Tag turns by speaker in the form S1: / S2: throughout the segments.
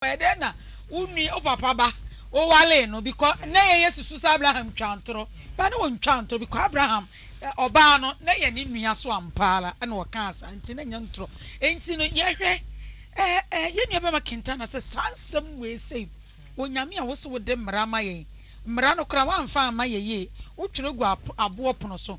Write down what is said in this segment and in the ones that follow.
S1: Ɔyɛ dɛn na wo nua wo papa ba wo waree no bikɔ nɛ yɛ yɛ susu sɛ Abraham twaa ntorɔ ba ne ɔntwaa ntorɔ bikɔ Abraham ɔbaa no nɛ yɛ ne nua so ampa ara na ɔkaa saa nti na nya ntorɔ nti no yɛ hwɛ ɛɛ ɛɛ yɛ nua bɛma Kintana sɛ saa nsɛm wei sei Onyame a wo se wo de mmara ama yɛn mmara no koraa woanfa amma yɛ yie wo twerɛ gu aboɔ pono so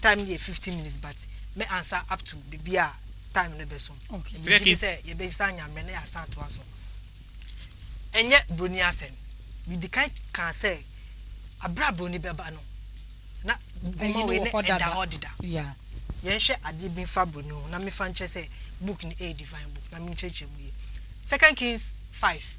S2: time no yɛ fifteen minutes but me ansa up to biribi a time no bɛ so ɛbi gye sɛ
S1: yɛbɛsan
S2: nyammerɛ na yɛasan atoa so ɛnyɛ buroni asɛm medi kan kaa sɛ abere a buroni bɛba no na goma wei ne ɛda hɔ deda
S1: yɛnhwɛ adeɛ
S2: bi mfa buroni ho na mefa nkyerɛ sɛ book no ɛyɛ divine book na menkyerɛkyerɛ mu yie second kings five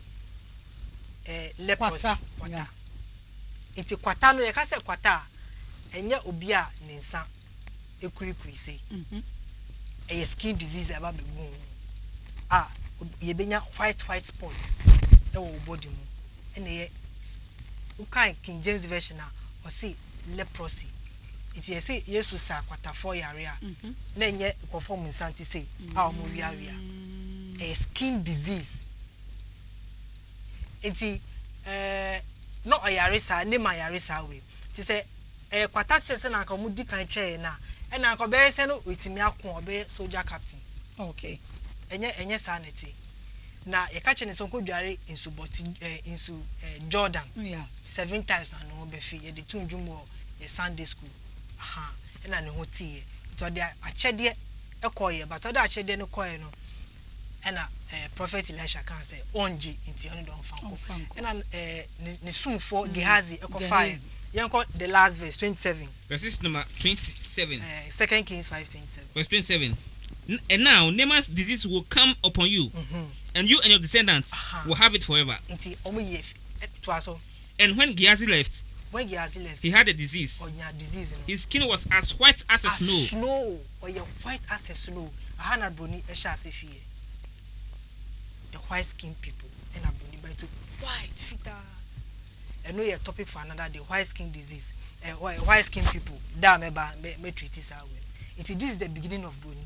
S2: Kwata nya. Nti kwata no, yɛka sɛ kwata a, ɛnyɛ obi a ne nsa kurikuri sei. Ɛyɛ skin disease a ɛba bɛgu wo ho a yɛbɛnya white white spots wɔ wo body mu. Ɛna ɛyɛ, wokan King James Version a, ɔse leprosy. Ntsi yɛse Yesu saa kwatafoɔ yare a, na nnyɛ nkorɔfoɔ ɔmo nsa ntsi sei a ɔmo weawea. Ɛyɛ skin disease. Ntsi ɛɛɛ na ɔyare saa, ne ma yare saa wei. Ntsi sɛ ɛyɛ kwata sɛ sɛnea anka ɔmo di kan kyerɛɛ yɛn a, ɛna anka ɔbɛyɛ sɛ no oetumi ako, ɔbɛyɛ soldier captain. Okay.
S1: Ɛnyɛ ɛnyɛ
S2: saa na ɛte. Na yɛka kyerɛ no sɛ ɔnkɔ dware nsubɔt ɛɛ nsu ɛɛ Jordan. Yeah.
S1: Seven times na ne
S2: ho bɛfee, yɛde too nnwom wɔ yɛ Sunday school, ahaa, ɛna ne ho teeɛ, nti ɔde akyɛdeɛ kɔeɛ, but ɔde akyɛdeɛ no kɔeɛ no, ɛna ɛɛ Prophet Elisha kaa sɛ ɔngye, nti ɔno deɛ ɔmfa nkɔ, ɛna ɛɛ ne sumfoɔ mm, Gehazi kɔfaeɛ, yɛnkɔ the last verse, twenty seven. Verses number twenty
S3: seven. Ɛɛ eh, Second Kings
S2: five twenty seven. Verse twenty seven.
S3: And now Naaman's disease will come upon you, mm -hmm. and you and your descendants uh -huh. will have it forever. Nti ɔmo yɛ
S2: Toa so. And when Gehazi
S3: left. When Gehazi left. He had a disease. Ɔnya disease no. His skin was as white as a snow. As snow. Ɔyɛ white
S2: as a snow. Aha na broni hyɛ ase fi yɛ. The white skin people ɛna broni ba to white fitaa. Ɛno yɛ topic for another day. White skin disease. Eh, white skin people. Da mɛba mɛ mɛ treat saa wɛ. Nti this is the beginning of broni.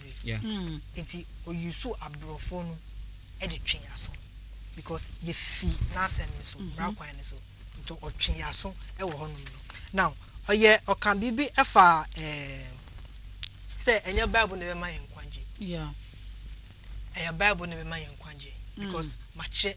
S3: bebree
S2: yeah nti o use aborɔfoɔ no de twe yɛn aso because yɛfi n'asɛm no so mm-hmm. mmara kwan no so nti ɔtwe yɛn aso wɔ hɔnom no now ɔyɛ ɔka biribi ɛfa ɛɛ eh, sɛ ɛnyɛ bible na ɛbɛma yɛn nkwagye ɛyɛ bible na ɛbɛma yɛn nkwagye mm. because makyerɛ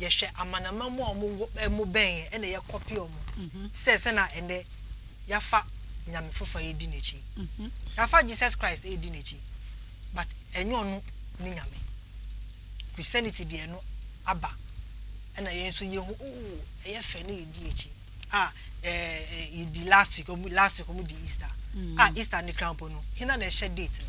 S2: yɛhwɛ amanaman mu a wɔwɔ bɛn yɛn ɛna yɛkɔpe wɔn sɛ sɛna ɛnɛ yɛafa nyame foforɔ yɛdi n'akyi yɛafa Jesus Christ ɛdi n'akyi but ɛnyɛ ɔno ne nyame Christianity deɛ no aba ɛna yɛn nso yɛhu oo ɛyɛ fɛ ne yɛdi akyi Ah, eh, eh, di last week, omu last week omu di Easter. Mm. Ah, Easter ni krampo no. Hina na ɛhyɛ date no.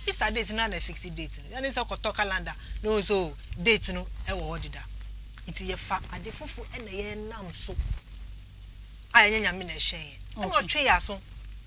S2: Easter date na na fix date no. Yani sɛ kɔtɔ calendar no nso date no ɛwɔ hɔ deda. Nti yɛ fa ade fufu ɛna yɛ nam so. A ɛnyɛ nyame na ɛhyɛ yɛ. Ɛna ɔtwe yɛ aso.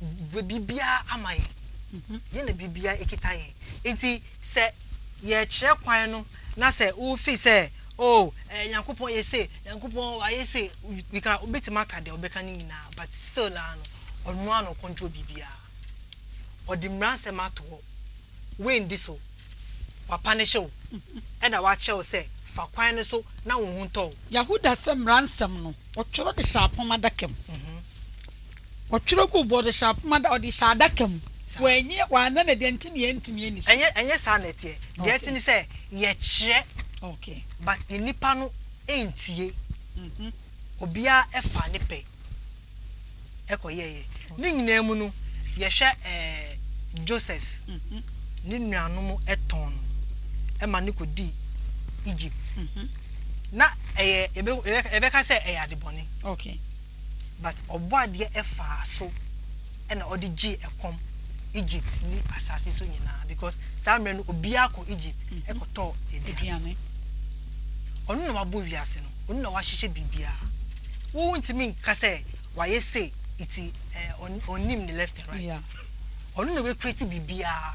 S2: bue biribiara ama yɛn. Yɛn na biribiara ekita yɛn. Nti sɛ yɛkyerɛ kwan no na sɛ wofi sɛ o oh, eh, Nyankopɔn yɛ se, Nyankopɔn wayɛ se, you can obetumi aka deɛ ɔbɛka no nyinaa, but still naa no ɔno ara na ɔkɔntro biribiara. Ɔde mmaransɛm ato hɔ. Wendi so. Wapanehyɛ wo. Ɛna wakyerɛ wo sɛ fa kwan no so na wo ho ntɔ wo. Yahuda sɛ
S1: mmaransɛm no ɔtwerɛ de hyɛ apam adaka mu. Mm -hmm. Ɔtwerɛ guu bɔɔdo hyɛ apoma da ɔde hyɛ adaka mu. Wanyi wanna no adi ɛnti na yɛntumi ani so. Ɛnyɛ ɛnyɛ saa na ɛteɛ.
S2: Deɛ ɛte ne sɛ yɛkyerɛ but
S1: nnipa
S2: no ntie. Obiara faa ne pɛ kɔ yɛɛyɛ. Ne nyinaa mu no yɛhwɛ ɛɛ Joseph ne nuanom tɔn no ma no kɔdii Egypt. Na ɛyɛ yɛbɛ yɛbɛka sɛ ɛyɛ adebɔne.
S1: but
S2: ɔbɔadeɛ ɛfaa so ɛna ɔde gyee ɛkɔm Egypt ne asaase so nyinaa because saa mmerɛ no obiara kɔ Egypt ɛkɔtɔɔ aduane ɔno na wabɔ wiase no ɔno na wahyehyɛ biribiara wo ntumi nka sɛ wayɛ sɛ iti ɔnim ne left and right ɔno
S1: na wakreti
S2: biribiara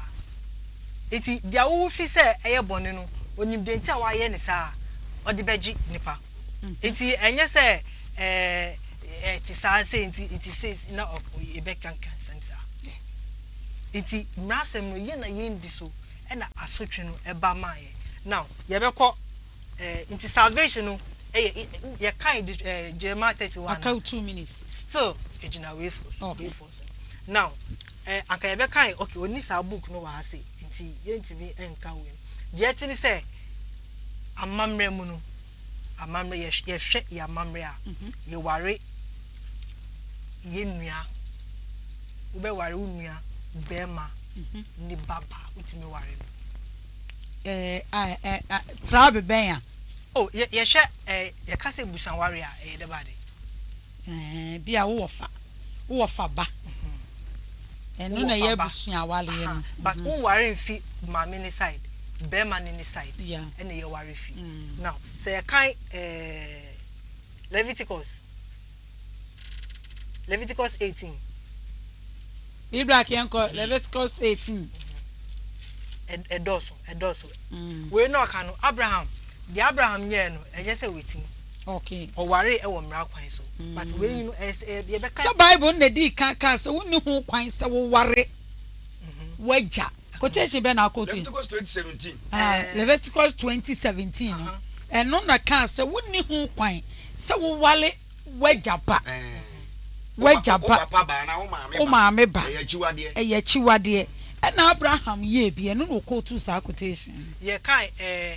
S2: eti deɛ wofi sɛ ɛyɛ bɔne no onim deɛ nti a wayɛ ne saa ɔde bɛgye nipa. Nti ɛnyɛ sɛ ɛɛ ɛte saa sei nti nti sei na yɛbɛkanka nsɛm saa. Nti mmaransɛm no yɛ na yɛndi so ɛna asotwe no ɛba maa yɛ. Now yɛbɛkɔ ɛɛ nti salvation no ɛyɛ yɛkan ɛɛ
S1: Jeremiah
S2: thirty one. Aka two
S1: minutes.
S2: Still ɛgyina
S1: weifoɔ so.
S2: Okay. Now eh, anka yɛbɛkae okay ɔnni saa book no wɔ ha se nti yɛntumi nka wei no. Deɛ ɛte ne sɛ amammerɛ mu no, amammerɛ yɛ yɛhwɛ yɛ amammerɛ a mhm. yɛware yɛn nua wobɛware wo nua bɛrima mhm. ne baba wotumi ware no. Eh, eh,
S1: eh, eh, tra bɛbɛn a. Oh, yɛhwɛ
S2: eh, yɛka sɛ busanware a ɛyɛ dɛ baade. Ɛɛ
S1: bia wo wɔ fa wo wɔ fa ba ɛno na ɛyɛ abusua awareɛ no. But wo nware nfi
S2: maame ne side bɛɛma no ne side ɛna yɛ ware
S1: fi
S2: now sɛ yɛ kan ɛɛ Leviticus Leviticus eighteen. Bi
S1: bra kɛ nkɔ Leviticus eighteen. Ɛdɔɔso
S2: ɛdɔɔso wei na ɔka no Abraham deɛ Abraham nyɛɛ no ɛnyɛ sɛ wɛtin. Okay. Ɔwaree
S1: ɛwɔ mmara
S2: kwan so. Mm. But wei yi no ɛsɛ yɛbɛka. Sɛ Bible na di kan
S1: kaa sɛ wonni ho kwan sɛ woware mhm. wagya. Quotation bɛ na akɔtu. Leviticus twenty seventeen.
S4: Ah, eh. Leviticus twenty
S1: seventeen no ɛno na kaa sɛ wonni ho kwan sɛ woware wagya ba. Eh. Wagya ba.
S4: Wo maame ba. Ɛyɛ
S1: akyiwadeɛ. Ɛna Abraham yie bi ɛno na ɔkɔtu saa quotation. Yɛ kaa ɛɛ.
S2: Eh,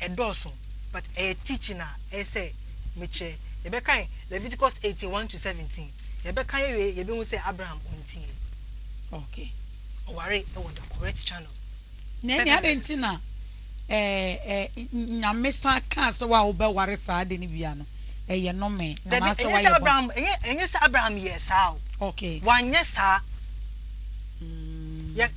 S2: ɛdɔɔso but ɛyɛ teaching a ɛyɛ sɛ mekyerɛ. Yɛbɛkan Leviticus eighteen one to seventeen. Yɛbɛka yɛwie yɛbɛhu sɛ Abraham ɔntiiɛ. Okay.
S1: Ɔware
S2: wɔ the correct channel. Na ɛne
S1: ade nti na nyamesa kaa sɛ wa wobɛware saa ade no bia no ɛyɛ nome anaasɛ wayɛ bɔ. Ɛnyɛ sɛ
S2: Abraham yɛɛ saa o. Okay. Wanyɛ
S1: saa.
S2: Mm.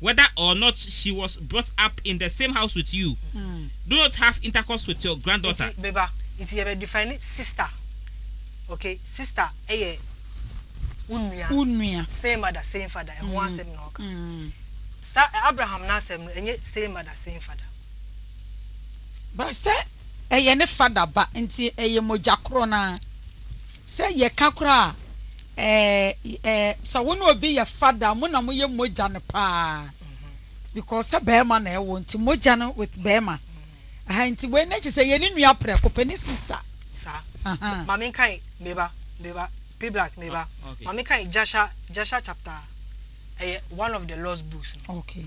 S3: whether or not she was brought up in the same house with you, do not have intercourse with your granddaughter. Nti me ba, nti yɛbɛ
S2: define sister, ok, sister yɛ wo nua, wo nua, same mother same father, ɛho asɛm na ɔka, Sa Abraham n'asɛm no ɛnyɛ same mother same father.
S1: But sɛ ɛyɛ ne father ba nti ɛyɛ mogya korɔ no ara. Sɛ yɛka koraa a, eh, eh, sɛ wo ne obi yɛ fada a, mo na moyɛ mogya no paa. Because sɛ barima na ɛwɔ nti, mogya no with barima. Aha, nti wei no kyerɛ sɛ yɛne nua prɛko pɛ, ne sister. Saa. Aha.
S2: Ma menkae, me ba, me ba, P-Black, me ba. Okay. Ma menkae Jasher, Jasher chapter, ɛyɛ one of the lost books no. Okay.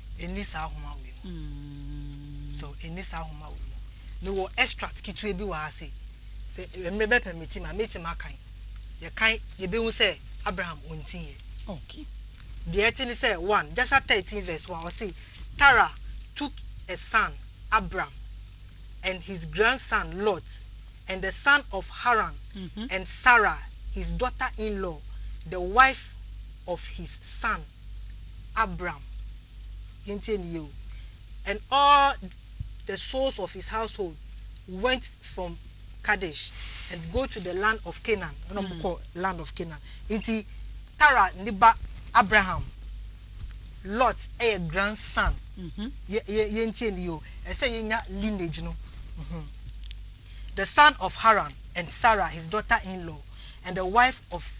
S2: Ɛnni saa nhoma wei mu. Mm. So ɛnni saa nhoma wei mu. Mewɔ extract ketewa bi wɔ ha se sɛ mmerɛ bɛ pɛmiti ma mɛtumi akan. Yɛkan yɛbɛhu sɛ Abraham ɔntiiɛ. Okay.
S1: Deɛ ɛte ne
S2: sɛ one Jasha thirteen verse one ɔse Tara took a son Abram and his grandson Lot and the son of Haran mm -hmm. and Sarah his daughter-in-law the wife of his son Abram, yɛntie no yie o, and all the souls of his household went from Kadesh and go to the land of Canaan, ɛna wɔn kɔ land of Canaan. Nti Tara ne ba Abraham, Lot yɛ grandson, mhm. yɛ yɛ yɛntie no yie o, ɛsɛ yɛnya lineage no. Mhm. The son of Haran and Sarah his daughter-in-law and the wife of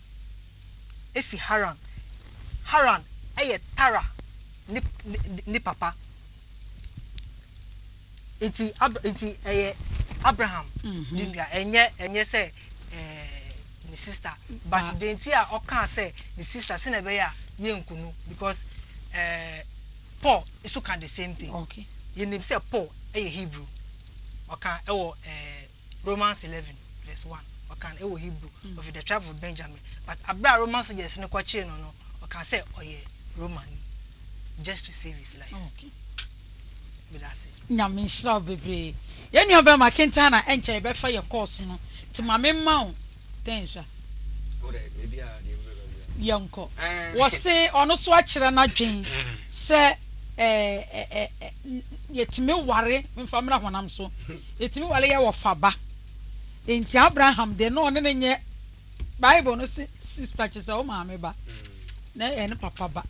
S2: fi Haran. Haran yɛ Tara ne ne ne papa. Nti Ab nti ɛyɛ Abraham ne nua. Ɛnyɛ ɛnyɛ sɛ ɛɛ ne sista. But deɛ nti a ɔkaa sɛ ne sista sɛ na ɛbɛyɛ a yɛnku no because ɛɛ Paul nso ka the same thing. Okay. Yɛnim sɛ
S1: Paul
S2: yɛ Hebrew. Ɔka ɛwɔ ɛɛ. Romans eleven verse one ɔkan ɛwɔ Hebrew of the tribe of Benjamin but abira a Roman soldiers no kɔ kyee no no ɔkan sɛ ɔyɛ Roman ni just to save his life. Okay. Medase. Nyame nhyira wo bebree.
S1: Yɛn nua bɛrima kentan na ɛnkyɛ yɛbɛfa yɛ course no. Ti ma me mma wo. Dɛn nhyɛ?
S4: Yɛnkɔ.
S1: Wɔse ɔno nso akyerɛ n'adwene sɛ yɛtumi ware, memfa mmra honam so, yɛtumi ware yɛ wɔfa ba. Enti Abraham deɛ na ɔne no nyɛ, Bible no se sista kyerɛ sɛ wo maame ba, na ɛyɛ ne papa ba,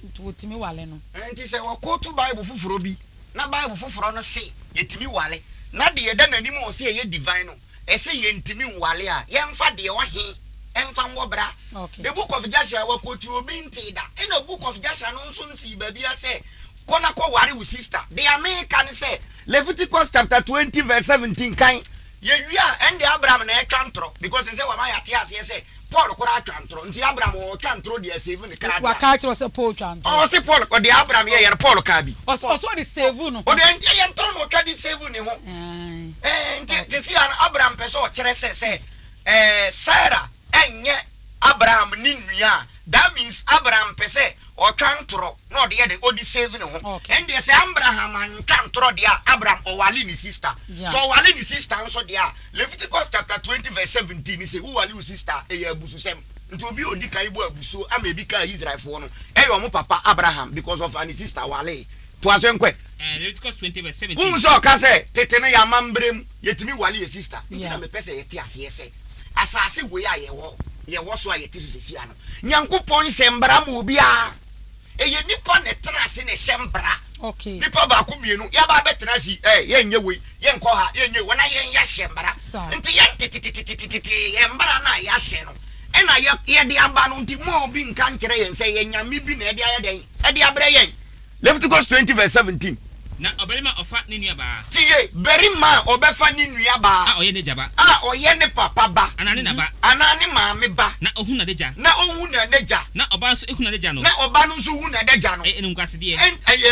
S1: nti wɔtumi ware no. Enti sɛ wɔkooto
S4: Bible foforɔ bi, na Bible foforɔ no se yɛtumi ware, na deɛ ɛda n'anim a ɔse ɛyɛ divine no, Ɛse yɛntumi nwale a, yɛmfa deɛ ɔhe mfa nwɔ bra. The book of
S1: Jasher
S4: wɔ quote obi ntee da, ɛna book of Jasher no nso nsii baabia sɛ kɔ na kɔ ware wo sister. Dea meka ne sɛ Leviticus chapter twenty verse seventeen kan, yɛwie a ɛnde Abraham na ɛtwa ntorɔ because ɛsɛ wama yɛate aseɛ sɛ Paul koraa twa ntoro nti Abraham ɔtwa ntoro de asevu ne kra deɛ. Waka akyerɛ sɛ Paul twa
S1: ntoro. Ɔse Paul ɔde
S4: Abraham yɛ yɛ no Paul kaa bi. Ɔse ɔse ɔde sevu
S1: ne ho. Ɔde ɛyɛ ntoro na
S4: ɔtwa de sevu ne ho. Ɛɛ nti te se ya no Abraham pɛ sɛ ɔkyerɛ sɛ sɛ ɛɛ Sarah ɛnyɛ Abraham ne nua a that means Abraham pɛ sɛ Ɔtwa ntorɔ na ɔde yɛ dɛn ɔde save ne ho ɛndeɛ sɛ Ambraham antwa ntorɔ deɛ a Abram ɔwale ne sister sɛ ɔwale ne sister nso deɛ a Leviticus chapter twenty verse seventeen ne sɛ wo wale wo sister ɛyɛ abususɛm nti obi a ɔdi kan bɔ abusuo ama ebi kaa Israelfoɔ no ɛyɛ wɔn papa Abraham because ɔfaa ne sister walee toa so nkɔ Leviticus twenty verse seventeen
S3: wohu sɛ ɔka sɛ
S4: tete no yɛ amambrɛ mu yɛtumi wale yɛ sister nti na mepɛ sɛ yɛte aseɛ sɛ asase wei a yɛwɔ yɛwɔ so a yɛte so sesia no. Nyankopɔn nhyɛ mbra ma obiara, ɛyɛ nipa na ɛtena ase na ɛhyɛ mbra, nipa baako
S1: mienu
S4: yaba abɛtena ase yi, ɛɛ yɛn nyɛ wei, yɛn nkɔ ha, yɛn nyɛ wei, wɔn ayɛ yɛ ahyɛ mbra, nti yɛn tetetetetete yɛn mbra na yɛ ahyɛ no ɛna yɛ yɛde aba no, nti mo a obi nka nkyerɛ yɛn sɛ ɛyɛ nyame bi na ɛde ayɛ dɛn, ɛde abrɛ yɛn. Leviticus twenty verse seventeen. Na
S3: ɔbarima a ɔfa ne nuabaa. Tie! Barima a
S4: ɔbɛfa ne nuabaa. A ɔyɛ n'agya ba. A
S3: ɔyɛ ne papa
S4: ba. Anaa ne na ba. Anaa
S3: ne maame ba.
S4: Na ɔhu n'adagya. Na
S3: ɔhu n'adagya.
S4: Na ɔba nso hu
S3: n'adagya
S4: no. Na ɔba no nso
S3: hu
S4: n'adagya
S3: no.
S4: Ɛyɛ
S3: animguasedeɛ. Ɛn, ɛyɛ.